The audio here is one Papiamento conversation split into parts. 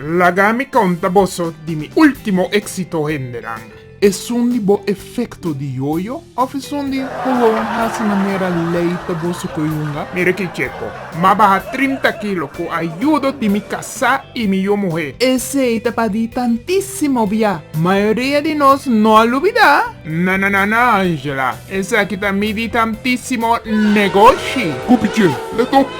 Laga mi conta boso di mi ultimo exito hendenan. Esun di bo efecto di yoyo of esun di gewoon haci manera ley pa boso coyunga? Mira ki checo. M'a baha trinta kilo cu ayudo di mi casá y mi yu muhé. Esey ta pa di tantisimo bia. Mayoria di nos no a lubida. Nananana Angela, esaki ta mi di tantisimo negoshi. Cupiche, let op!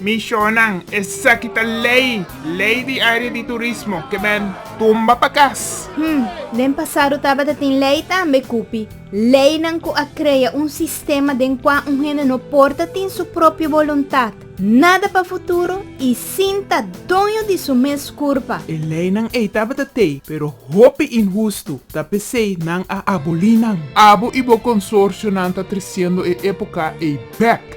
Mishonnan, Esaki ta lei, lei di area di turismo, ke men tumba pa kas. Hm, den pasado tabata tin lei tambe, Kupi, leinan ku a krea un sistema den kua un hende no por ta tin su propio boluntat, nada pa futuro i sinta doño di su mes kurpa. E leinan ei tabata tei, pero hopi inhustu, ta p'esei nan a aboli nan. Abo i bo konsorsionan ta tresiendo e époka ei bèk.